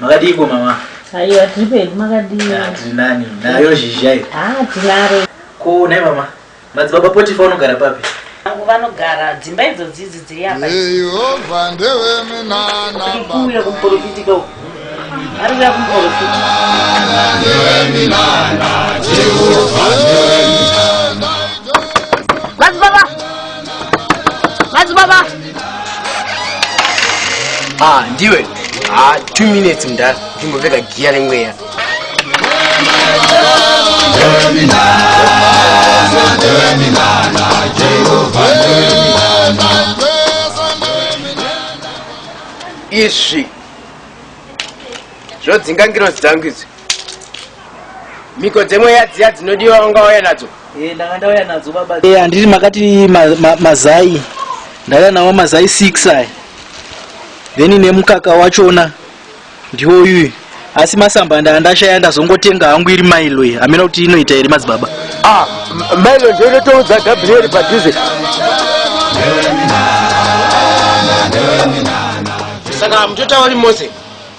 makadiiko mama aiwa tiri pedu makadii tiri nani nayo zhizha iyo ah, tinaro ko nai mama madzibaba potifa unogara papi angu vanogara dzimba idzo dzidzi dziri apa yehova ndeveminanakuuya kumuporofiti ko ari kuya kumuporofiti madzibaba ah ndiwe ah two minutes mda ndimbopfeka giya remweya izvi zvodzinga ngirozi dzangu izvi mhiko dzemweya dziya dzinodiwa wanga wauya nadzo Eh, ndanga ndauya nadzo baba Eh, handiti makati ma, ma, mazai ndauya nawo mazai 6 aya then nemukaka wachona ndiwo uyu asi masamba ndaa ndashaya ndazongotenga hangu iri mailo iyi hamena kuti inoita here madzibaba ah m- mailo ndiyo inotoudza gabriel padhuze saka mutotauri mose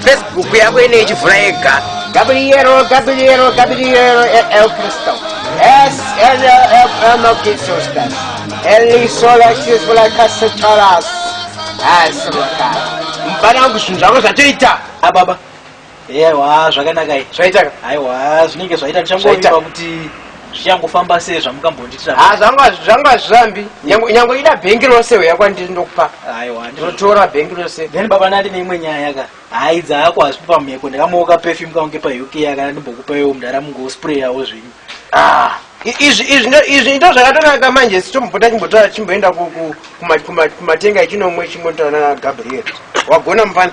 Facebook yako ine ichivhura yega. Gabriel, Gabriel, Gabriel, El Cristo. S, L, L, L, no Jesus Christ. Eli sola chizvula kasa charas. Asi maka. Mbana wangu zvinhu zvako zvatoita. Ah baba. Ewa, zvakanaka. Zvaitaka. Aiwa, zvinenge zvaita tichangoita kuti zvichangofamba sei zvamukambondiitira ha zvanga zvanga hazvirambi nyangwe nyangwe ida bhengi rose uya kwandiri ndokupa aiwa ndotora bhengi rose then baba nati neimwe nyaya ka hayi dzako hazvipi pamheko ndakamuoka perfume kange pa uk yakana ndimbokupa iwo mudara mungosprayawo zvenyu ah izvi izvi ndo izvi ndo zvakatonaka manje sitombopota chimbotora chimboenda ku- ku- kuma- kuma- kumatenga echinomwe chimbotaura nana gabriel wagona mufana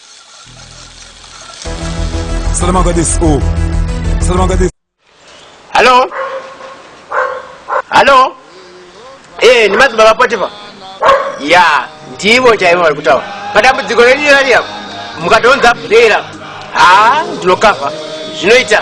Salama Gadis. Oh. Salama Gadis. Hello. Hello. Eh, ni mazi baba Potifa. Ya, ndivo chaivo vari kutaura. Padambudziko renyu rari apo. Mukatounza bhera. Ha, ndinokava. Zvinoita.